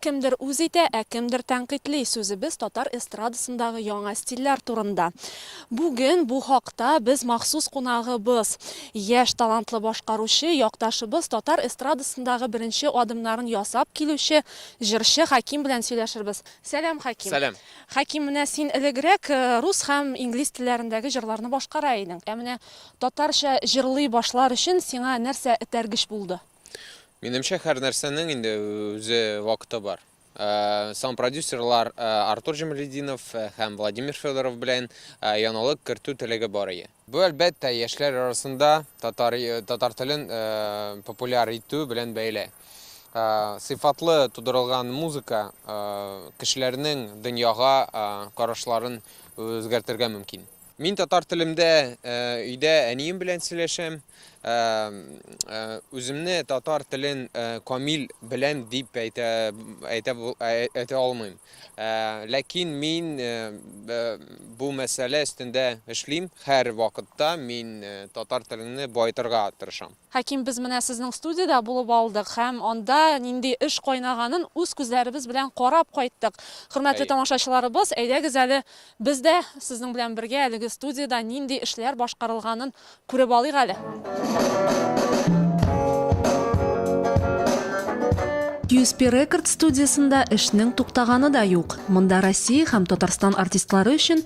Кемдер үз итә, ә кемдер тәнкыйтьли. Сүзебез татар эстрадасындагы яңа стильләр турында. Бүген бу хакта без махсус кунагыбыз, яшь талантлы башкаручы, якташыбыз, татар эстрадасындагы беренче адымнарын ясап килүче җырчы Хәким белән сөйләшербез. Сәлам, Хәким! Сәлам! Хәким, менә син элегрәк рус һәм инглиз телләрендәге җырларны башкара идең. Ә менә Татарча җырлый башлар өчен сиңа нәрсә этәргеч булды? Минемчә, һәрнәрсәнең инде үзе вакыты бар. Сам продюсерлар Артур Җамалетдинов һәм Владимир Федоров белән яңалык кертү теләге бар ие. Бу, әлбәттә, яшьләр арасында татар татар телен популяр итү белән бәйле. Сыйфатлы тудырылган музыка кешеләрнең дөньяга карашларын үзгәртергә мөмкин. Мин татар телемдә өйдә әнием белән сөйләшәм. Үземне татар телен камил беләм дип әйтә әйтә әйтә алмыйм. Ләкин мин бу мәсьәлә өстендә эшлим. Һәр вакытта мин татар телеңне байтырга тырышам. Хәким, без менә сезнең студиядә булып алдык һәм анда нинди эш кайнаганын үз күзләребез белән карап кайттык. Хөрмәтле тамашачыларыбыз, әйдәгез әле без дә сезнең белән бергә әлеге студиядә нинди эшләр башкарылганын күреп алыйк әле. USP Records студиясендә эшнең туктаганы да юк. Монда Россия һәм Татарстан артистлары өчен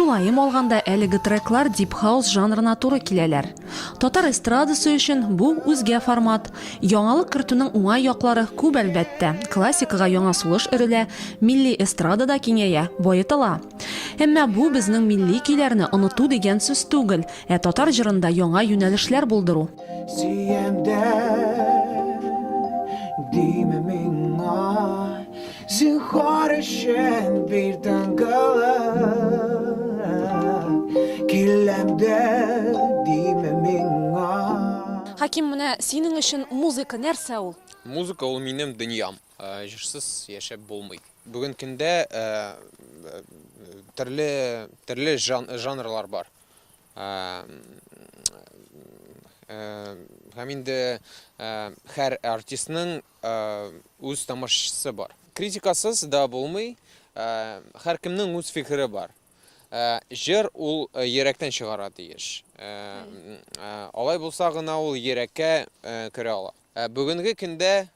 Тулаем алганда, әлеге треклар дип-хаус жанрына туры киләләр. Татар эстрадасы өчен бу, үзгә формат. Яңалык кертүнең уңай яклары күп, әлбәттә. Классикага яңа сулыш өрелә, милли эстрада да киңәя, баетыла. Әмма бу, безнең милли көйләрне оныту дигән сүз түгел, ә татар җырында яңа юнәлешләр булдыру. Сөям дә, диме миңа. Зинхар өчен бир тыңгылык Киләмдә диме миңа Хаким, менә синең өчен музыка нәрсә ул? Музыка ул минем дөньям. Э, җырсыз яшәп булмый. Бүген көндә э, төрле төрле жанрлар бар. Э, һәм инде һәр артистның Ә үз тамашачысы бар. Критикасыз да булмый, ә һәркемнең үз фикере бар. Ә җыр ул йөрәктән чыгара тиеш. Ә алай булса гына ул йөрәккә керә ала. Ә бүгенге көндә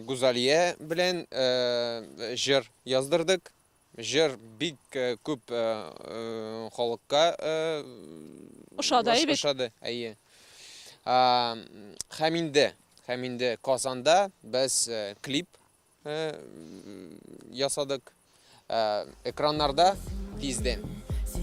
Гузалия белән җыр яздырдык. Җыр бик күп халыкка ошады, әйе бит? Ошады, әйе. Һәм инде, һәм инде Казанда без клип ясадык. Экраннарда тиздән.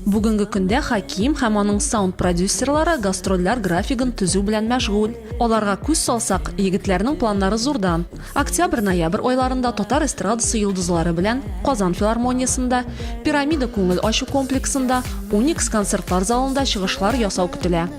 Бүгенге көндә Хаким һәм аның саунд-продюсерлары гастрольләр графигын төзү белән мәшгуль. Аларга күз салсак, егетләрнең планнары зурдан. Октябрь-ноябрь айларында татар эстрадасы йолдызлары белән Казан филармониясендә, Пирамида күңел ачу комплексында, Уникс концертлар залында чыгышлар ясау көтелә.